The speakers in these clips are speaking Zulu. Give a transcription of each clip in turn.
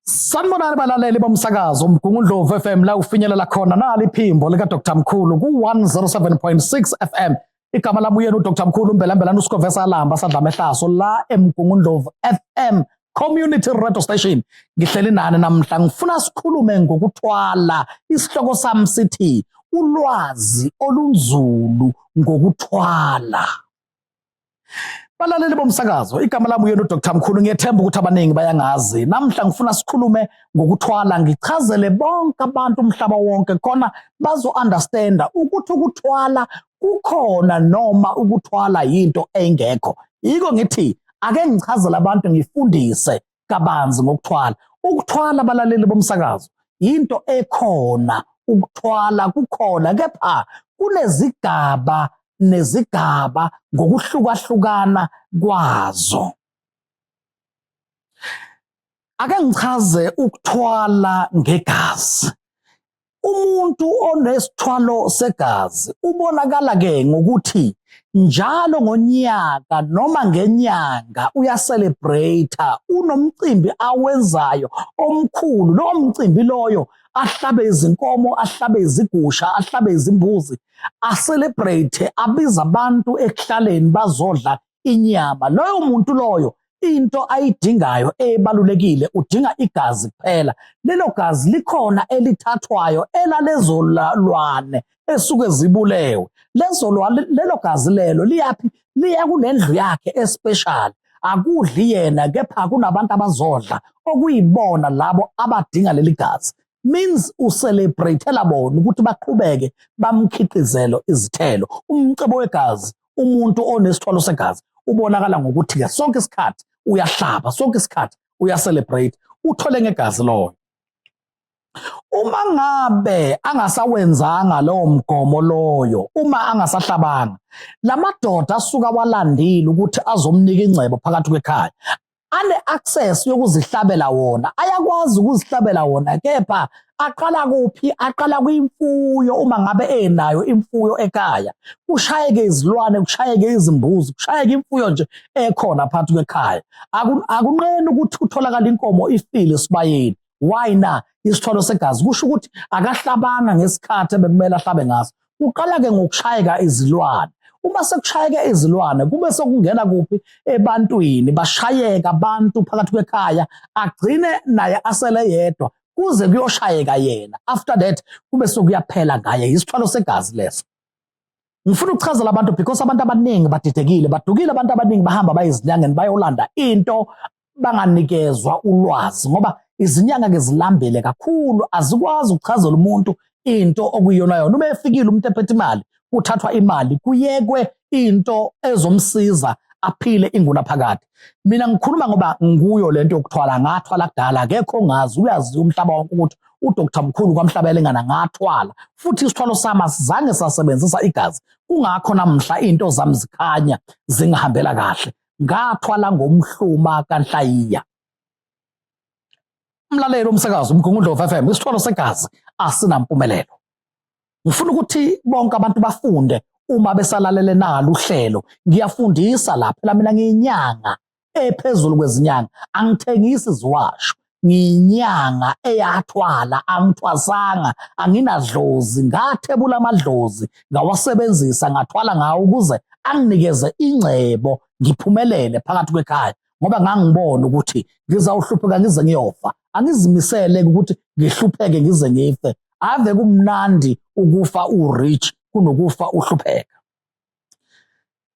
Sanibonani balaleli bomsakazo uMgungundlovu FM la ufinyelela khona nali iphimbo lika Dr Mkhulu ku 107.6 FM igama lami uyena uDr Mkhulu Mbelambela uSikovesa Alamba sadla mehlaso la eMgungundlovu FM community radio station ngihleli nani namhla ngifuna sikhulume ngokuthwala isihloko sami sithi ulwazi olunzulu ngokuthwala Balaleli bomsakazo, igama lami uyena uDr Mkhulu, ngiyethemba ukuthi abaningi bayangazi. Namhla ngifuna sikhulume ngokuthwala, ngichazele bonke abantu umhlaba wonke khona bazo-understanda ukuthi ukuthwala kukhona noma ukuthwala yinto engekho. Yiko ngithi ake ngichazele abantu ngifundise kabanzi ngokuthwala ukuthwala abalaleli bomsakazo yinto ekhona ukuthwala kukhona kepha kunezigaba nezigaba ngokuhlukahlukana kwazo ake ngichaze ukuthwala ngegazi Umuntu onesithwalo segazi ubonakala ke ngokuthi njalo ngonyaka noma ngenyanga uyacelebrate unomcimbi awenzayo omkhulu lowo mcimbi loyo ahlabe izinkomo ahlabe izigusha ahlabe izimbuzi acelebrate abiza abantu ekuhlaleni bazodla inyama. Loyo muntu loyo into ayidingayo ebalulekile udinga igazi kuphela. Lelo gazi likhona elithathwayo elalezo lwane esuke zibulewe. Lezo lwane lelo gazi lelo liyaphi? Liya kunendlu yakhe especial. Akudli yena kepha kunabantu abazodla okuyibona labo abadinga leli gazi. means ucelebrate-ela bona ukuthi baqhubeke bamkhiqizelo izithelo umcebo wegazi umuntu onesithwalo segazi ubonakala ngokuthi ke sonke isikhathi uyahlaba sonke isikhathi uyacelebrate uthole ngegazi loyo uma ngabe angasawenzanga lowo mgomo loyo uma angasahlabanga lamadoda asuka walandile ukuthi azomnika ingcebo phakathi kwekhaya ane-access yokuzihlabela wona ayakwazi ukuzihlabela wona kepha aqala kuphi aqala kwimfuyo uma ngabe enayo imfuyo ekhaya kushayeke izilwane kushayeke izimbuzi kushayeke imfuyo nje ekhona phakathi kwekhaya akunqeni ukuthi utholakala inkomo ifile esibayeni why na isithwalo segazi kusho ukuthi akahlabanga ngesikhathi ebekumele ahlabe ngaso kuqala ke ngokushayeka izilwane uma sekushayeke izilwane kube sekungena kuphi ebantwini bashayeka abantu phakathi kwekhaya agcine naye asele yedwa kuze kuyoshayeka yena after that kube sokuyaphela ngaye isithwalo segazi leso ngifuna ukuchazela abantu because abantu abaningi badidekile badukile abantu abaningi bahamba bayizinyangeni bayolanda into banganikezwa ulwazi ngoba izinyanga ke zilambele kakhulu azikwazi ukuchazela umuntu into okuyona yona uma efikile umuntu ephethe imali kuthathwa imali kuyekwe into ezomsiza aphile ingunaphakade mina ngikhuluma ngoba nguyo lento yokuthwala ngathwala kudala akekho ongazi uyaziwa umhlaba wonke ukuthi udokotha mkhulu kwamhlaba elingana ngathwala futhi isithwalo sami asizange sasebenzisa igazi kungakho namhla into zami zikhanya zingihambela kahle ngathwala ngomhluma kanhlayiya umlaleli omsakazi umgungundo of FM isithwalo segazi asinampumelelo ngifuna ukuthi bonke abantu bafunde uma besalalele nalo uhlelo ngiyafundisa la phela mina ngiyinyanga ephezulu kwezinyanga angithengisi ziwasho ngiyinyanga eyathwala angithwasanga anginadlozi ngathebula amadlozi ngawasebenzisa ngathwala ngawo ukuze anginikeze ingcebo ngiphumelele phakathi kwekhaya ngoba ngangibona ukuthi ngizawuhlupheka ngize ngiyofa angizimisele ukuthi ngihlupheke ngize ngife ave kumnandi ukufa urich kunokufa uhlupheka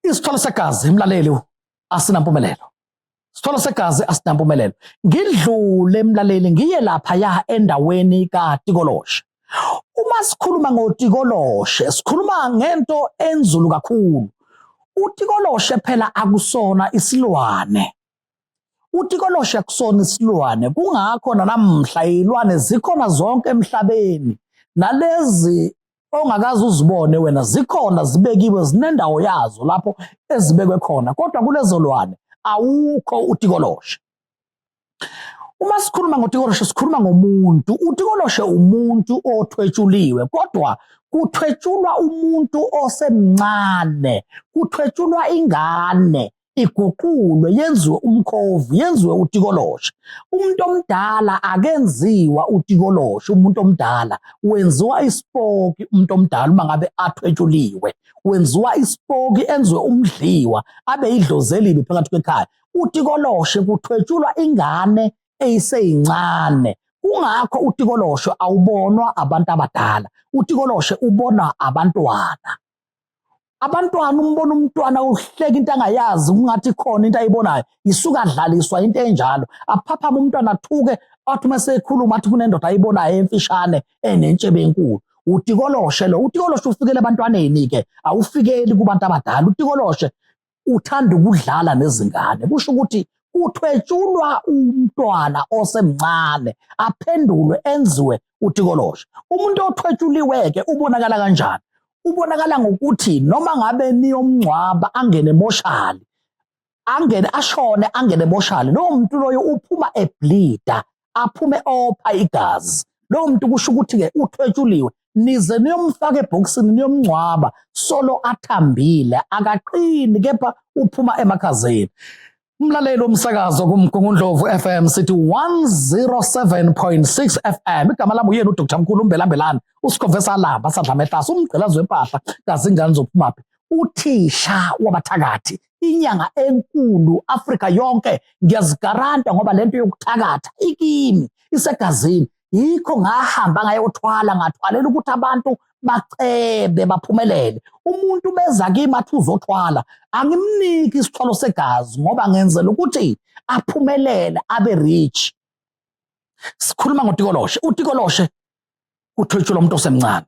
isithwalo segazi imlaleli asinampumelelo sithole segazi asinampumelelo ngidlule emlaleli ngiye lapha ya endaweni kaTikoloshe uma sikhuluma ngoTikoloshe sikhuluma ngento enzulu kakhulu uTikoloshe phela akusona isilwane uTikoloshe akusona isilwane kungakho namhla izilwane zikhona zonke emhlabeni nalezi ongakaze uzibone wena zikhona zibekiwe zinendawo yazo lapho ezibekwe khona kodwa kulezo lwane awukho utikoloshe uma sikhuluma ngotikoloshe sikhuluma ngomuntu utikoloshe umuntu othwetshuliwe kodwa kuthwetshulwa umuntu osemncane kuthwetshulwa ingane iguqulwe yenziwe umkhovu yenziwe utikoloshe umuntu omdala akenziwa utikoloshe umuntu omdala wenziwa isipoki umuntu omdala uma ngabe athwetshuliwe wenziwa isipoki enziwe umdliwa abe idlozi elibi phakathi kwekhaya utikoloshe kuthwetshulwa ingane eyiseyincane kungakho utikoloshe awubonwa abantu abadala utikoloshe ubonwa abantwana abantwana umbona umntwana uhleka into angayazi kungathi khona into ayibonayo isuka adlaliswa into enjalo aphaphama umntwana athuke athi uma sekhuluma athi kunendoda ayibonayo emfishane enentshebe enkulu utikoloshe lo utikoloshe ufikele ebantwaneni-ke awufikeli kubantu abadala utikoloshe uthanda ukudlala nezingane kusho ukuthi uthwetshulwa umntwana osemncane aphendulwe enziwe utikoloshe umuntu othwetshuliweke ubonakala kanjani ubonakala ngokuthi noma ngabe niyomngcwaba angene emoshali angene ashone angene emoshali lowo muntu loyo uphuma eblida aphume opha igazi lowo muntu kusho ukuthi-ke uthwetshuliwe nize niyomfaka ebhokisini niyomngcwaba solo athambile akaqini kepha uphuma emakhazeni Mlaleli womsakazo kuMgungundlovu FM sithi 107.6 FM igama lami uyena uDr Mkhulu Mbelambelani usikhove salamba sadla mehlasa umgqilazo wempahla kazingane zophumaphi uthisha wabathakathi inyanga enkulu Afrika yonke ngiyazigaranta ngoba lento yokuthakatha ikimi isegazini yikho ngahamba ngayothwala ngathwalela ukuthi abantu bacebe baphumelele umuntu beza kimi athi uzothwala angimniki isithwalo segazi ngoba ngenzela ukuthi aphumelele abe rich sikhuluma ngotikoloshe utikoloshe kuthwetshelwa umuntu osemncane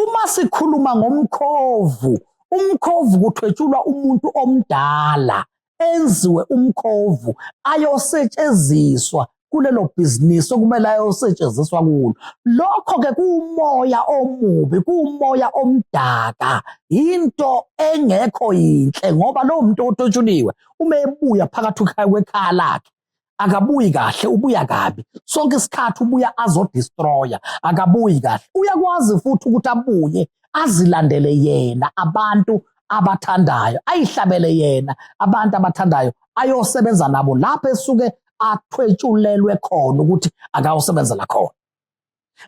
uma sikhuluma ngomkhovu umkhovu kuthwetshulwa umuntu omdala enziwe umkhovu ayosetshenziswa kulelo bhizinisi okumele ayosetshenziswa kulo lokho-ke kuwumoya omubi kuwumoya omdaka yinto engekho yinhle ngoba lowo muntu ototshuliwe uma ebuya phakathi kwekhaya lakhe akabuyi kahle ubuya kabi sonke isikhathi ubuya azodestroya akabuyi kahle uyakwazi futhi ukuthi abuye azilandele yena abantu abathandayo ayihlabele yena abantu abathandayo ayosebenza nabo lapho esuke athwetshulelwe khona ukuthi akawusebenzela khona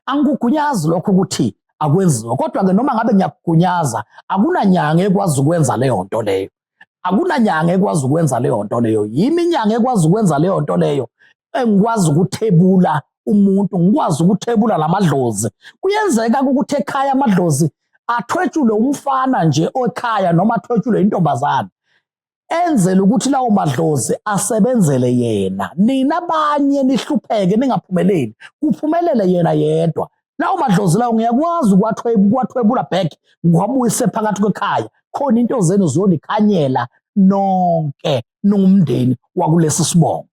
Angikugunyazi lokho ukuthi akwenziwa kodwa-ke noma ngabe ngiyakugunyaza akunanyanga ekwazi ukwenza leyo nto leyo akunanyanga ekwazi ukwenza leyo nto leyo yimi inyanga ekwazi ukwenza leyo nto leyo engikwazi ukuthebula umuntu ngikwazi ukuthebula lamadlozi kuyenzeka ukuthi ekhaya amadlozi athwetshule umfana nje okhaya noma athwetshule intombazana enzele ukuthi lawo madlozi asebenzele yena nina abanye nihlupheke ningaphumeleli kuphumelele yena yedwa lawo madlozi lawo ngiyakwazi ukuwathwebula back ngiwabuyise phakathi kwekhaya khona into zenu ziyonikhanyela nonke ningumndeni wakulesi sibongo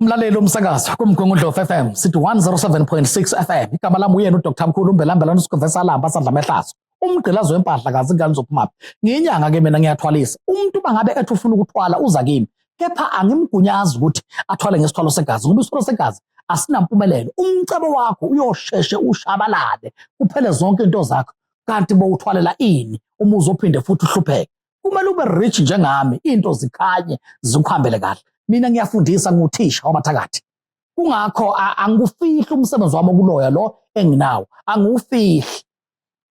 Mlaleli umsakazo kumgungundlo FM sithi 107.6 FM igama lami uyena uDr Mkhulu umbelambelana usigovesa alamba sadla mehlazo umgqilazo wempahla kazi ingane zophumaphi ngiyinyanga ke mina ngiyathwalisa umuntu bangabe ethi ufuna ukuthwala uza kimi kepha angimgunyazi ukuthi athwale ngesithwalo segazi ngoba isithwalo segazi asinampumelelo umcebo wakho uyosheshe ushabalale kuphele zonke into zakho kanti bowuthwalela ini uma uzophinde futhi uhlupheke kumele ube rich njengami into zikhanye zikuhambele kahle mina ngiyafundisa nguthisha wabathakathi kungakho angikufihli umsebenzi wami okuloya lo enginawo angiwufihli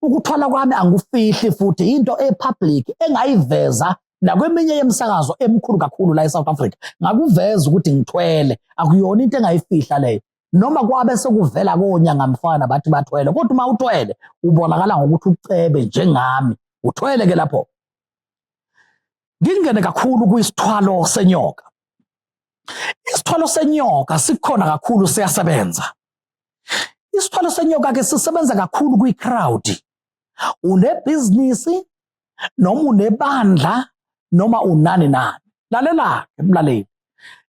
ukuthwala kwami angikufihli futhi into epublic engayiveza nakweminye yemisakazo emkhulu kakhulu la eSouth Africa ngakuveza ukuthi ngithwele akuyona into engayifihla leyo noma kwabe sekuvela konyangamfana bathi bathwele kodwa uma uthwele ubonakala ngokuthi ucebe njengami uthwele ke lapho ngingene kakhulu kwisithwalo senyoka isithwalo senyoka sikhona kakhulu siyasebenza isithwalo senyoka ke sisebenza kakhulu kwi-crowd unebhizinisi noma unebandla noma unani nani lalela ke mlaleli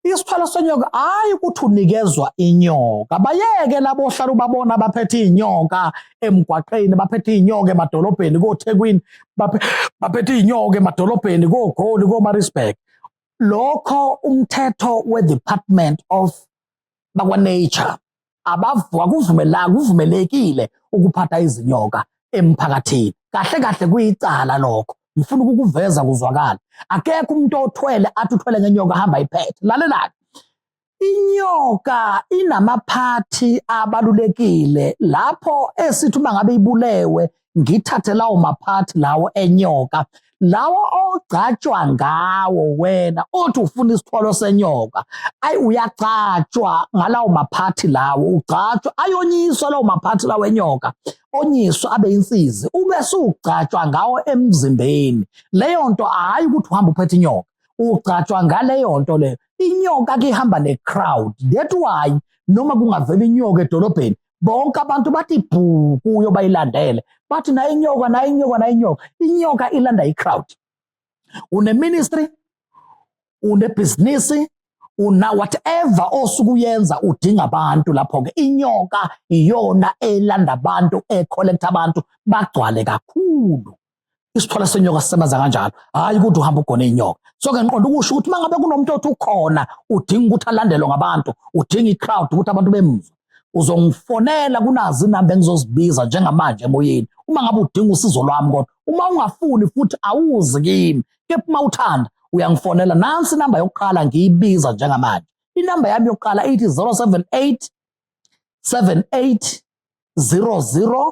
isithwalo senyoka hayi ukuthi unikezwa inyoka bayeke labo ohlala ubabona baphethe izinyoka emgwaqeni baphethe izinyoka emadolobheni koThekwini baphethe izinyoka emadolobheni koGoli koMaritzburg lokho umthetho weDepartment of bakwa-nature akuvumelanga kuvumelekile ukuphatha izinyoka emphakathini kahle kahle kuyicala lokho ngifuna ukukuveza kuzwakala akekho umuntu othwele athi uthwele ngenyoka hamba iphethe lalelani inyoka inamaphathi abalulekile lapho esithi uma ngabe ibulewe ngithathe lawo maphathi lawo enyoka lawo ogcatshwa ngawo wena othi ufuna isithwalo senyoka ayi uyagcatshwa ngalawo maphathi lawo ugcatshwa ayonyiswa lawo maphathi lawo enyoka onyiswa abe insizi ube sugcatshwa ngawo emzimbeni leyo nto hayi ukuthi uhamba uphethe inyoka ugcatshwa ngaleyo nto leyo inyoka ke ihamba ne crowd that why noma kungavela inyoka edolobheni bonke abantu bathi bhu kuyo bayilandele bathi nayo inyoka nayo inyoka nayo inyoka inyoka ilanda i-crowd uneministry unebhizinisi una whatever osukuyenza udinga abantu lapho-ke inyoka iyona elanda abantu ecollecta abantu bagcwale kakhulu isithwala senyoka sisebenza kanjalo hhayi ukuthi uhamba ugone inyoka so ke ngiqonda ukusho ukuthi uma ngabe kunomuntu othi ukhona udinga ukuthi alandelwe ngabantu udinga i-crowd ukuthi abantu bemuzwe uzongifonela kunazi inamba engizozibiza njengamanje emoyeni uma ngabe udinga usizo lwami kodwa uma ungafuni futhi awuzi kimi kepha uma uthanda uyangifonela nansi inamba yokuqala ngiyibiza njengamanje inamba yami yokuqala ithi 078 78 00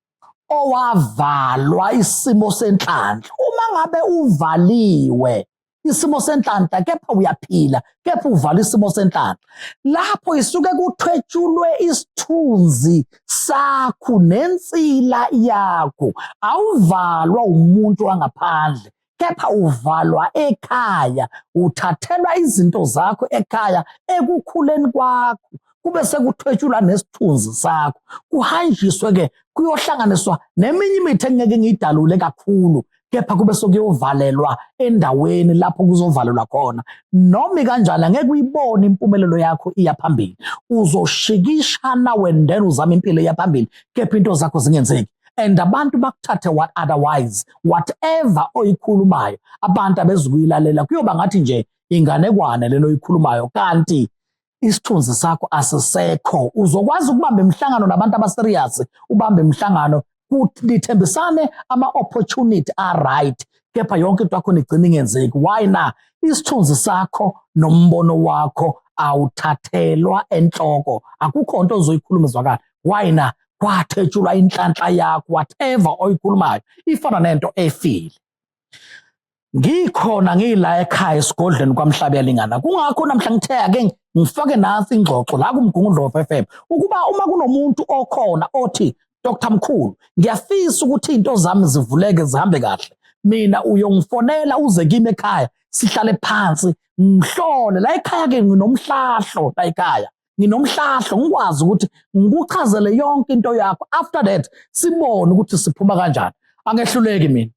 owavalwa isimo senhlanhla uma ngabe uvaliwe isimo senhlanhla kepha uyaphila kepha uvala isimo senhlanhla lapho isuke kuthwetshulwe isithunzi sakho nensila yakho awuvalwa umuntu wangaphandle kepha uvalwa ekhaya uthathelwa izinto zakho ekhaya ekukhuleni kwakho kube sekuthwetshulwa nesithunzi sakho kuhanjiswe ke kuyohlanganiswa neminye imithi engeke ngiyidalule kakhulu kepha kube sokuyovalelwa endaweni lapho kuzovalelwa khona noma kanjani angeke uyibone impumelelo yakho iya phambili uzoshikishana wendela uzama impilo iya phambili kepha into zakho zingenzeki and abantu bakuthathe what otherwise whatever oyikhulumayo abantu abezukuyilalela kuyoba ngathi nje inganekwane lelo oyikhulumayo kanti isithunzi sakho asisekho uzokwazi ukubamba imihlangano nabantu abaserious ubambe imihlangano kuthembisane ama-opportunity a-right kepha yonke into yakho nigcina ingenzeki why na isithunzi sakho nombono wakho awuthathelwa enhloko akukho nto ozoyikhuluma izwakala why na wathetshulwa inhlanhla yakho whatever oyikhulumayo ifana nento efile ngikhona ngila ekhaya esigodlweni kwamhlabe yalingana kungakho namhla ngithe ake ngifake nansi ingxoxo la kumgungundlovu FM ukuba uma kunomuntu okhona othi Dr Mkhulu ngiyafisa ukuthi into zami zivuleke zihambe kahle mina uyongifonela uze kimi ekhaya sihlale phansi ngihlole la ekhaya ke nginomhlahlo la ekhaya nginomhlahlo ngikwazi ukuthi ngikuchazele yonke into yakho after that sibone ukuthi siphuma kanjani angehluleki mina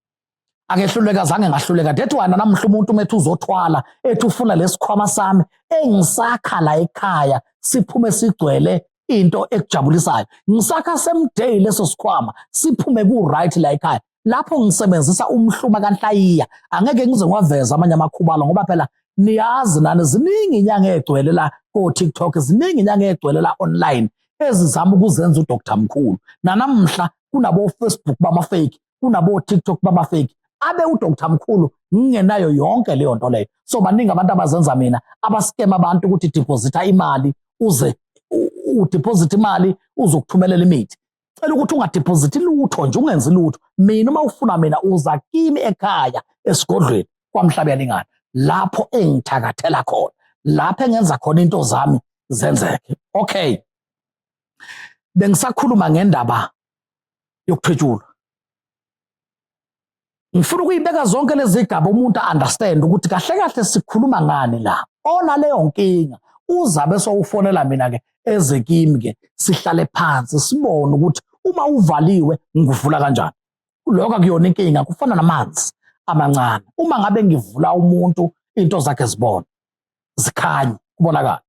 angehluleka zange ngahluleka that why namhla umuntu umethu uzothwala ethi ufuna lesikhwama sami engisakha la ekhaya siphume sigcwele into ekujabulisayo ngisakha same day leso sikhwama siphume ku right la ekhaya lapho ngisebenzisa umhluma kanhlayiya angeke ngize ngiwaveza amanye amakhubalo ngoba phela niyazi nani ziningi inyanga egcwele la ko-tiktok ziningi inyanga egcwele la online ezizama ukuzenza udr mkhulu nanamhla kunabofacebook bamafeki kunabo-tiktok bamafeki abe udr mkhulu ngingenayo yonke leyo nto leyo so baningi abantu abazenza mina abasikema abantu ukuthi deposita imali uze udeposita imali uzokuthumelela imithi cela ukuthi ungadiphozithi lutho nje ungenzi lutho mina uma ufuna mina uza kimi ekhaya esigodlweni kwamhlabeni ingane lapho engithakathela khona lapho engenza khona into zami zenzeke okay bengisakhuluma ngendaba yokuthwetshulwa ngifuna ukuyibeka zonke lezi gaba umuntu understand ukuthi kahle kahle sikhuluma ngani la onaleyo nkinga uzabe sowufonela mina ke eze kimi ke sihlale phansi sibone ukuthi uma uvaliwe ngivula kanjani lokho akuyona inkinga kufana namanzi amancane uma ngabe ngivula umuntu into zakhe zibona zikhanye kubonakala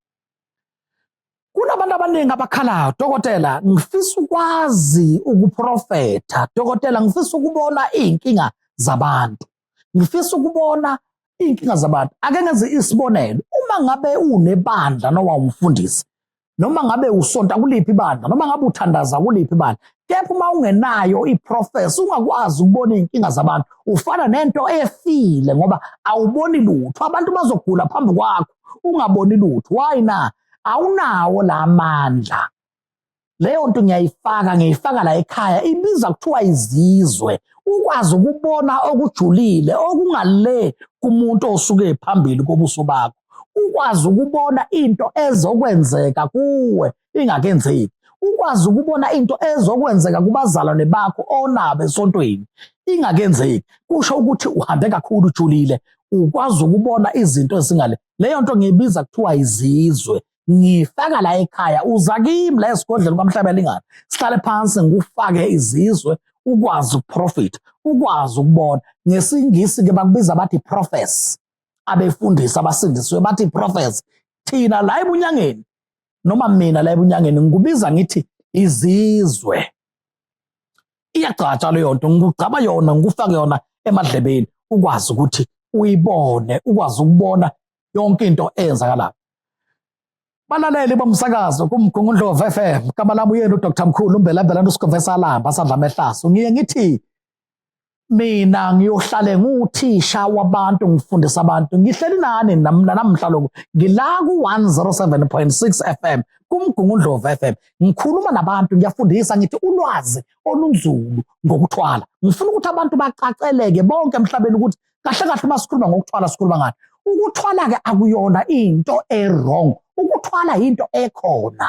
Kunabantu abaningi abakhala, dokotela, ngifisa ukwazi ukuprofetha. Dokotela, ngifisa ukubona izinkinga zabantu. Ngifisa ukubona izinkinga zabantu. Ake ngenze isibonelo. Uma ngabe unebandla noma umfundisi, noma ngabe usonta kuliphi ibandla, noma ngabe uthandaza kuliphi ibandla, kepha uma ungenayo iprofesi ungakwazi ukubona izinkinga zabantu ufana nento efile ngoba awuboni lutho abantu bazogula phambi kwakho ungaboni lutho why na awunawo la mandla leyo nto ngiyayifaka ngiyifaka la ekhaya ibiza kuthiwa izizwe ukwazi ukubona okujulile okungale kumuntu osuke phambili kobuso bakho ukwazi ukubona into ezokwenzeka kuwe ingakenzeki ukwazi ukubona into ezokwenzeka kubazalwane bakho onabo esontweni ingakenzeki kusho ukuthi uhambe kakhulu ujulile ukwazi ukubona izinto ezingale leyo nto ngiyibiza kuthiwa izizwe ngifaka la ekhaya uza kimi la esigodleni kwamhlabelingana sihlale phansi ngikufake izizwe ukwazi ukuprofitha ukwazi ukubona ngesingisi ke bakubiza bathi profess abefundisi abasindiswe bathi profess thina la ebunyangeni noma mina la ebunyangeni ngikubiza ngithi izizwe iyagcatshwa leyo nto ngikugcaba yona ngikufake yona emadlebeni ukwazi ukuthi uyibone ukwazi ukubona yonke into eyenzakalayo balaleli bomsakazo kumgungundlovu f m gama lami uyena udr mkhulu umbelambelana usigovesa alamba asadla amehlaso ngiye ngithi mina ngiyohlale nguthisha wabantu ngifundisa abantu ngihleli nani namhla lokhu ngila ku-107.6 f m kumgungundlovu f m ngikhuluma nabantu ngiyafundisa ngithi ulwazi olunzulu ngokuthwala ngifuna ukuthi abantu bacaceleke bonke emhlabeni ukuthi kahle kahle uma sikhuluma ngokuthwala sikhuluma ngani ukuthwala-ke akuyona into e-wrong ukuthwala yinto ekhona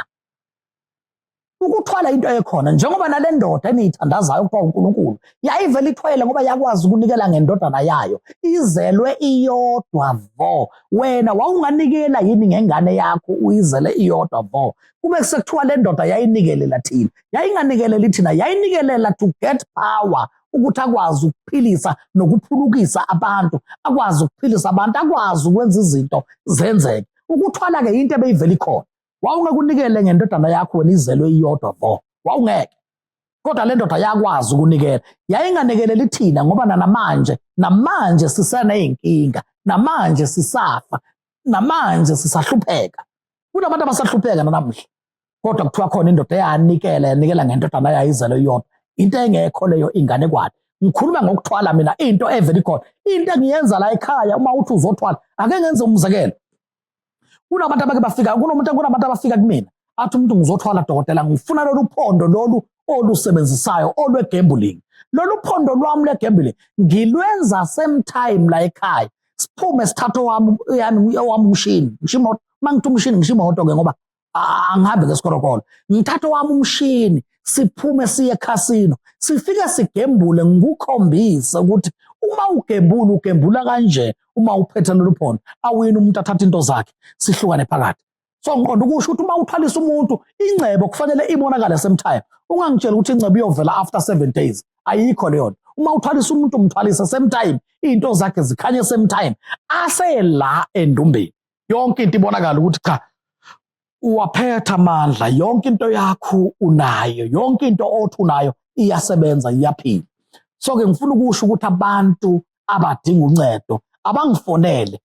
ukuthwala into ekhona njengoba nale ndoda eniyithandazayo okuthiwa unkulunkulu yayivele ithwele ngoba yakwazi ukunikela ngendodana yayo izelwe iyodwa vo wena wawunganikela yini ngengane yakho uyizele iyodwa vo kube sekuthiwa le ndoda yayinikelela thina yayinganikeleli thina yayinikelela to get power ukuthi akwazi ukuphilisa nokuphulukisa abantu akwazi ukuphilisa abantu akwazi ukwenza izinto zenzeke ukuthwala-ke yinto ebeyivela ikhona wawungeke unikele ngendodana yakho wena izelwe iyodwa vo wawungeke kodwa le ndoda yakwazi ukunikela yayinganikeleli thina ngoba nanamanje namanje siseney'nkinga namanje sisafa namanje sisahlupheka kunabantu abasahlupheka nanamuhla kodwa kuthiwa khona indoda eyanikela yanikela ngendodana yayizelo iyodwa into engekho leyo ingane kwani ngikhuluma ngokuthwala mina into evele ikhona into engiyenza la ekhaya uma uthi uzothwala ake ngenze umzekelo kunabantu abake bafika kunomuntu kunabantu abafika kumina athi umuntu ngizothwala dokotela ngifuna lolu phondo lolu olusebenzisayo olwegambling lolu phondo lwami lwegambling ngilwenza same time la ekhaya siphume sithathe owami yami owami umshini ngisho imoto uma ngithi umshini ngisho imoto-ke ngoba angihambe ngesikorokolo ngithathe owami umshini siphume siye ekhasino sifike sigembule ngikukhombise ukuthi uma ugembula ugembula kanje uma uphethe lolu phondo awuyini umuntu athathe into zakhe sihlukane phakathi so ngiqonda ukusho ukuthi uma uthwalisa umuntu ingcebo kufanele ibonakale same time ungangitshela ukuthi ingcebo iyovela after seven days ayikho leyo nto uma uthwalisa umuntu umthwalise same time iy'nto zakhe zikhanye same time asela endumbeni yonke into ibonakala ukuthi cha uwaphetha amandla yonke into yakho unayo yonke into othi unayo iyasebenza iyaphila so ke ngifuna ukusho ukuthi abantu abadinga uncedo abangifonele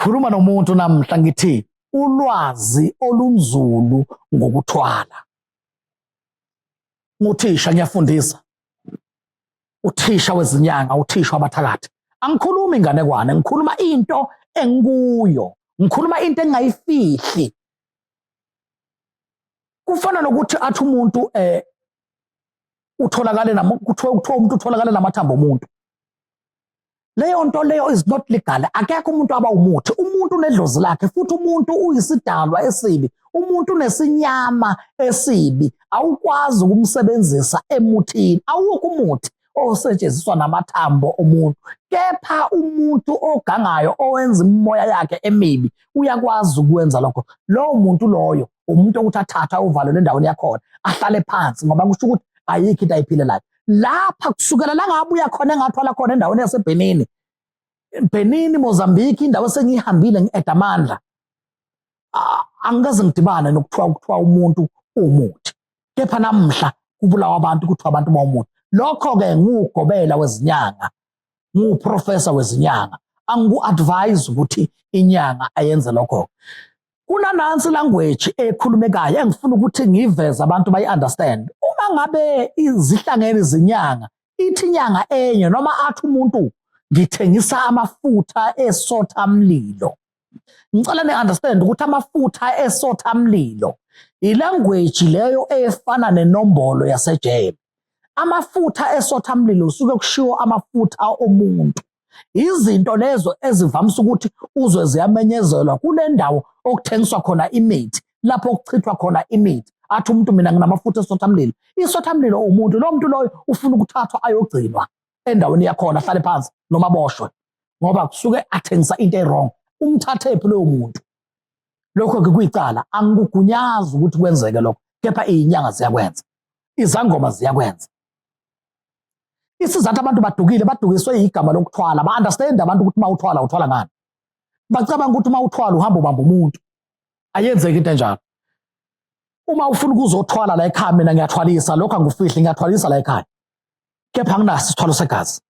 khuluma nomuntu namhla ngithi ulwazi olunzulu ngokuthwala nguthisha ngiyafundisa uthisha wezinyanga uthisha wabathakathi angikhulumi inganekwane ngikhuluma into engikuyo ngikhuluma into engingayifihli kufana nokuthi athi umuntu eh utholakale kuthiwa umuntu utholakale namathambo omuntu leyo nto leyo is not legal akekho umuntu aba umuthi umuntu unedlozi lakhe futhi umuntu uyisidalwa esibi umuntu unesinyama esibi awukwazi ukumsebenzisa emuthini awukho umuthi osetshenziswa namathambo omuntu kepha umuntu ogangayo owenza imimoya yakhe emibi uyakwazi ukwenza lokho lowo muntu loyo umuntu okuthi athatha uvalelwe endaweni yakhona ahlale phansi ngoba kusho ukuthi ayikho into ayiphilelayo lapha kusukela la ngabuya khona engathwala khona endaweni yaseBhenini Bhenini Mozambique indawo esengiyihambile ngieda amandla angikaze ngidibane nokuthiwa ukuthiwa umuntu uwumuthi kepha namhla kubulawa abantu kuthiwa abantu bawumuthi lokho-ke nguwugobela wezinyanga nguwuprofesa wezinyanga angiku-advise ukuthi inyanga ayenze lokho-ke kunanansi language ekhulumekayo engifuna ukuthi ngiveze abantu bayi-understand uma ngabe izihlangene izinyanga ithi inyanga enye noma athi umuntu ngithengisa amafutha esotha mlilo ngicela ni-understand ukuthi amafutha esotha mlilo ilanguage leyo efana nenombolo yasejele amafutha esotha mlilo suke kushiwo amafutha omuntu izinto lezo ezivamisa ukuthi uzwe ziyamenyezelwa kule ndawo okuthengiswa khona imithi lapho kuchithwa khona imithi athi umuntu mina nginamafutha esothamlilo isothamlilo umuntu lo muntu loyo ufuna ukuthathwa ayogcinwa endaweni yakhona ahlale phansi noma aboshwe ngoba kusuke athengisa into ewrong umthathephi loyo muntu lokho-ke kuyicala angikugunyazi ukuthi kwenzeke lokho kepha iyinyanga ziyakwenza izangoma ziyakwenza isizathu abantu badukile badukiswe igama lokuthwala ba-understand abantu ukuthi uma uthwala uthwala ngani bacabanga ukuthi uma uthwala uhamba ubamba umuntu ayenzeki into enjalo uma ufuna ukuzothwala la ekhaya mina ngiyathwalisa lokho angikufihli ngiyathwalisa la ekhaya kepha anginaso isithwalo segazi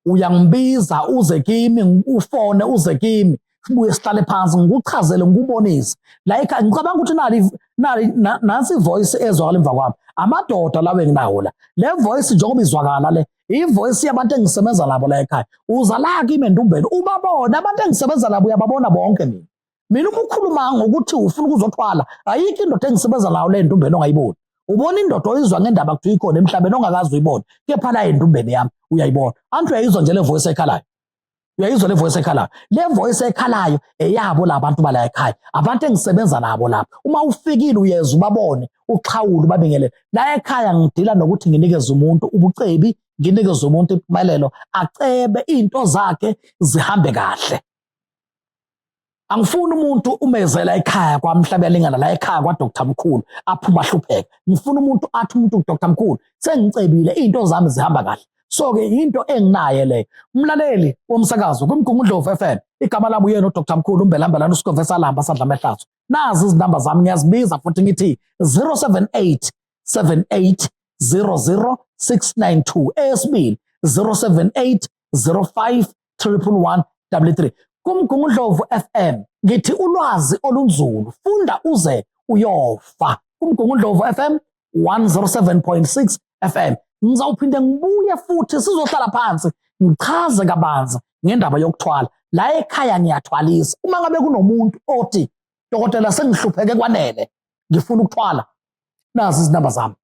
uyangibiza uze kimi ufone uze kimi sibuye sihlale phansi ngikuchazele ngikubonise like ngicabanga ukuthi nali nali nansi voice ezwakala emva kwami amadoda lawo enginawo la le voice njengoba izwakala le ivoice yabantu engisebenza nabo la ekhaya uza la kimi endumbeni ubabona abantu engisebenza nabo uyababona bonke mina mina uma ukhuluma ngokuthi ufuna ukuzothwala ayikho indoda engisebenza nayo le ntumbeni ongayiboni ubona indoda oyizwa ngendaba kuthiwa ikhona emhlabeni ongakazi uyibona kepha la entumbeni yami uyayibona anti uyayizwa nje le voice ekhalayo uyayizwa le voice ekhalayo le voice ekhalayo eyabo labantu bala ekhaya abantu engisebenza nabo lapha uma ufikile uyeza ubabone uxhawule ubabingelele la ekhaya ngidila nokuthi nginikeze umuntu ubucebi nginikeze umuntu impumelelo acebe izinto zakhe zihambe kahle angifuni umuntu umezela ekhaya kwamhlaba lingana la ekhaya kwa Dr Mkhulu aphuma hlupheka ngifuna umuntu athi umuntu Dr Mkhulu sengicebile izinto zami zihamba kahle so ke into enginaye le umlaleli womsakazo kumgungundlovu FM igama lami uyena uDr Mkhulu umbelambelana usikhove salamba sadla amehlazo nazi izinamba zami ngiyazibiza futhi ngithi 078 78 00692 esibili 078 05 31133 kumgungundlovu FM ngithi ulwazi olunzulu funda uze uyofa kumgungundlovu FM 107.6 FM ngizawuphinde ngibuye futhi sizohlala phansi ngichaze kabanzi ngendaba yokuthwala la ekhaya ngiyathwalisa uma ngabe kunomuntu othi dokotela sengihlupheke kwanele ngifuna ukuthwala nazi izinamba zami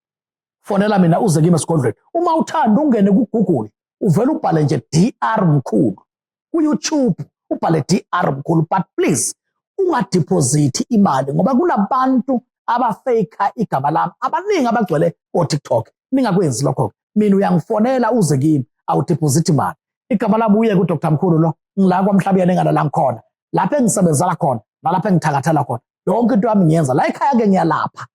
fonela mina uze kimi esigodlweni uma uthanda ungene kugoogle uvele ubhale nje dr mkhulu kuyoutube ubhale dr mkhulu but please ungadiphozithi imali ngoba kunabantu abafeyikha igama lami abaningi abagcwele kotiktok ningakwenzi lokho-ke mina uyangifonela uze kimi awudiphozithi imali igama lami uye kudr mkhulu lo ngila kwamhlabuyena engalala ngikhona lapho engisebenzela khona nalapho engithakathela khona yonke into yami ngiyenza la ekhaya-ke ngiyalapha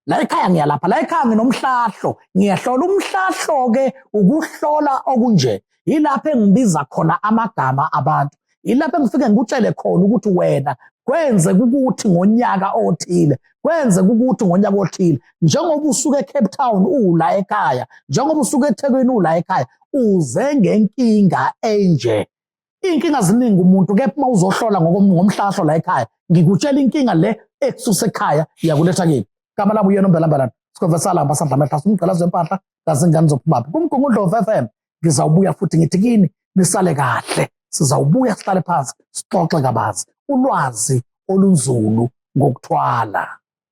la ekhaya ngiyalapha la ekhaya nginomhlahlo ngiyahlola umhlahlo ke ukuhlola okunje yilapho engibiza khona amagama abantu yilapho engifike ngikutshele khona ukuthi wena kwenze ukuthi ngonyaka othile kwenze ukuthi ngonyaka othile njengoba usuke eCape Town ula ekhaya njengoba usuke eThekwini ula ekhaya uze ngenkinga enje iy'nkinga ziningi umuntu kepha uma uzohlola ngomhlahlo la ekhaya ngikutshela inkinga le ekususa ekhaya yakuletha kini gama lami uyena umbelambelan sikhonvesala ambasadla amehlasa umgqalazo wempahla kazingane zophumaphi kumgungundlovu f m ngizawubuya futhi ngithi kini nisale kahle sizawubuya sihlale phansi sixoxe kabanzi ulwazi olunzulu ngokuthwala